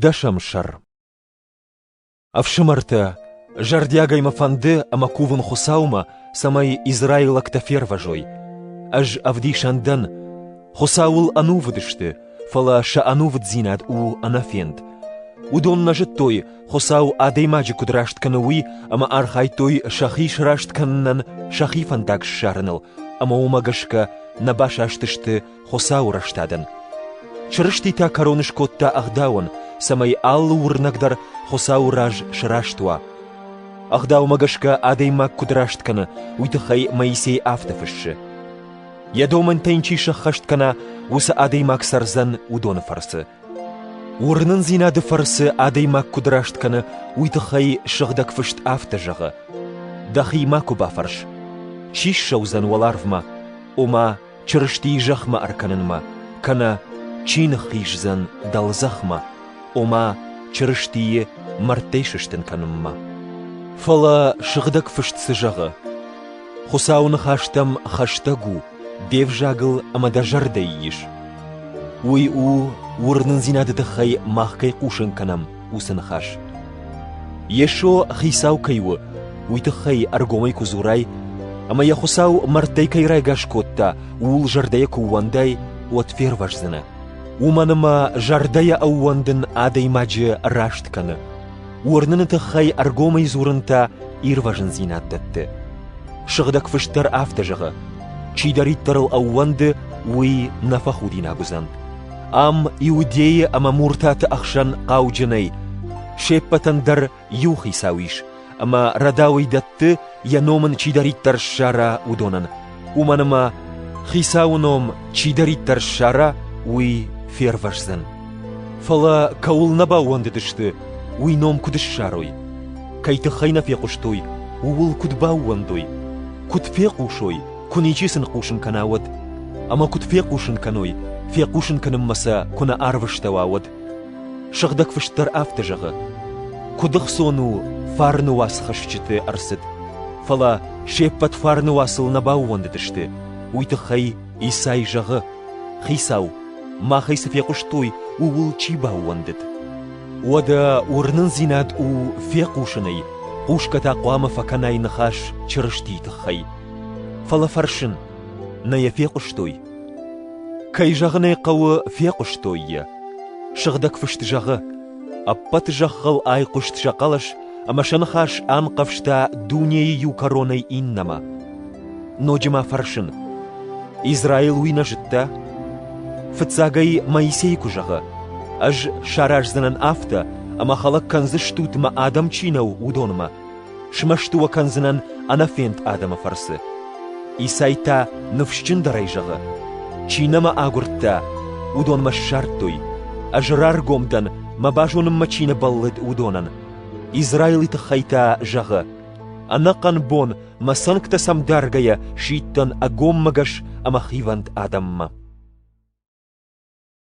Дӕсӕм сӕр Ӕфсымӕртӕ, зӕрдиагӕй мӕ фӕнды ӕмӕ кувын Хуыцаумӕ, цӕмӕй израилӕгтӕ фервӕзой. Ӕз ӕвдисӕн дӕн, Хуыцауыл ӕнувыд сты, фӕлӕ сӕ ӕнувыддзинад у ӕнӕфенд. Уыдон нӕ зыдтой, Хуыцау адӕймаджы куыд раст кӕны, уый, ӕмӕ архайдтой сӕхи сраст кӕнынӕн сӕхи фӕндаг ссарыныл, ӕмӕ уымӕ гӕсгӕ нӕ басастысты Хуыцауы рӕстадӕн. Чырысти та кӕрон скодта ӕгъдауӕн, цӕмӕй алы уырнӕг дӕр Хуыцауы раз сраст уа. Ӕгъдаумӕ гӕсгӕ адӕймаг куыд раст кӕны, уый тыххӕй Моисей афтӕ фыссы. Йӕ домӕнтӕ йын чи сӕххӕст кӕна, уыцы адӕймаг цӕрдзӕн уыдоны фӕрцы. Уырнындзинады фӕрцы адӕймаг куыд раст кӕны, уый тыххӕй Сыгъдӕг Фыст афтӕ зӕгъы: Дӕхи макуы бафӕрс, чи ссӕудзӕн уӕларвмӕ, ома Чырыстийы зӕхмӕ ӕркӕнынмӕ, кӕнӕ чи ныххиздзӕн дӕлдзӕхмӕ, ома Чырыстийы мӕрдтӕй сыстын кӕнынмӕ. Фӕлӕ Сыгъдӕг Фыст цы зӕгъы? Хуыцауы ныхӕстӕм хӕстӕг у, де взагыл ӕмӕ дӕ зӕрдӕйы ис. Уый у, уырнындзинады тыххӕй мах кӕй хъусын кӕнӕм, уыцы ныхас. Йесо Хицау кӕй у, уый тыххӕй ӕргомӕй куы дзурай, ӕмӕ йӕ Хуыцау мӕрдтӕй кӕй райгас кодта, ууыл зӕрдӕйӕ куы ӕууӕндай, уӕд фервӕздзынӕ. Уымӕн ӕмӕ зӕрдӕйӕ ӕууӕндын адӕймаджы раст кӕны. Уырныны тыххӕй ӕргомӕй дзурын та ирвӕзындзинад дӕтты. Сыгъдӕг Фыст дӕр афтӕ зӕгъы: «Чидӕриддӕрыл ӕууӕнды, уый нӕ фӕхудинаг уыдзӕн». Ам иудейы ӕмӕ муртаты ӕхсӕн хъауджынӕй се ппӕтӕн дӕр иу хицау ис, ӕмӕ рӕдауӕй дӕтты, йӕ ном ын чидӕриддӕр ссара, уыдонӕн. Уымӕн ӕмӕ Хицауы ном чидӕриддӕр ссара, уый фервӕздзӕн. Фӕлӕ кӕуыл нӕ баууӕндыдысты, уый ном куыд ссарой? Кӕй тыххӕй нӕ фехъуыстой, ууыл куыд баууӕндой? Куыд фехъусой, Куы ничи сын хъусын кӕна, уӕд? Ӕмӕ куыд фехъусын кӕной, фехъусын кӕнынмӕ сӕ куы нӕ арвыстӕуа, уӕд? Сыгъдӕг Фыст дӕр афтӕ зӕгъы: Куыд ӕхцон у фарны уацхӕсджыты ӕрцыд, фӕлӕ се ппӕт фарны уацыл нӕ баууӕндыдысты. Уый тыххӕй Исай зӕгъы: Хицау, махӕй цы фехъуыстой, ууыл чи баууӕндыд? Уӕдӕ уырнындзинад у фехъусынӕй, хъусгӕ та хъуамӕ фӕкӕнай ныхас Чырыстийы тыххӕй. Фӕлӕ фӕрсын, нӕ йӕ фехъуыстой? Кӕй зӕгъын ӕй хъӕуы, фехъуыстой йӕ. Сыгъдӕг фыст зӕгъы: Ӕппӕт зӕххыл айхъуыст сӕ хъӕлӕс, ӕмӕ сӕ ныхас анхъӕвзта дунейы иу кӕронӕй иннӕмӕ. Ноджы ма фӕрсын: Израил уый нӕ зыдта? Фыццагӕй Моисей куы зӕгъы: Ӕз сараздзынӕн афтӕ, ӕмӕ хӕлӕг кӕндзыстут мӕ адӕм чи нӕу, уыдонмӕ. Смӕсты уӕ кӕндзынӕн ӕнӕфенд адӕмы фӕрцы. Исай та ныфсджындӕрӕй зӕгъы: Чи нӕ мӕ агуырдта, уыдонмӕ ссардтой, ӕз раргом дӕн, мӕ базонынмӕ чи нӕ бӕллыд, уыдонӕн. Израилы тыххӕй та зӕгъы: Ӕнӕхъӕн бон мӕ цӕнгтӕ сӕм даргӕйӕ сидтӕн ӕгоммӕгӕс ӕмӕ хивӕнд адӕммӕ.